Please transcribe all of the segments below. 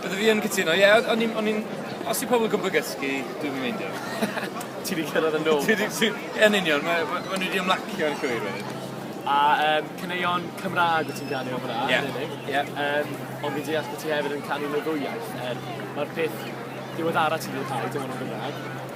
Bydde fi yn cytuno, ie, o'n i'n, o'n i'n, os yw pobl yn gwybod gysgu, dwi'm yn meindio. Ti wedi cyrraedd y nod. Ti wedi, ti, yn union, mae, mae nhw wedi ymlacio yn llwyr wedyn. A um, caneuon Cymraeg wyt ti'n ganu o fyna, yeah. yn unig. Yeah. Um, ond fi'n deall bod ti hefyd yn canu mewn ddwy iaith, er mae'r peth diweddara ti'n gwneud rhaid yn hwnnw Gymraeg.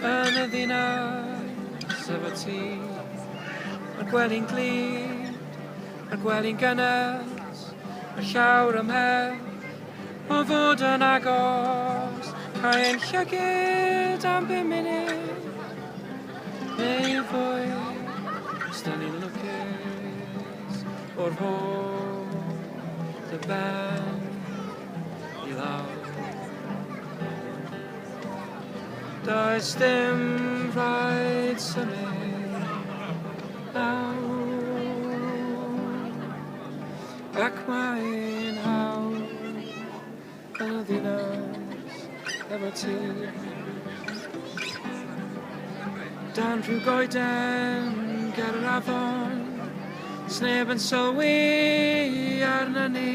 Yn y ddinas efo ti Mae'r gwely'n glyd Mae'r gwely'n gynnes Mae llawr ymhell O fod yn agos Cael ein llygyd am bum munud Neu fwy Os da ni'n lwcus O'r hôl Dy ben I lawr Does dim rhaid symud nawr Ac mae'n hawdd yn y ddinas efo ti Dan rhyw goeden ger yr afon Sneb yn sylwi arna ni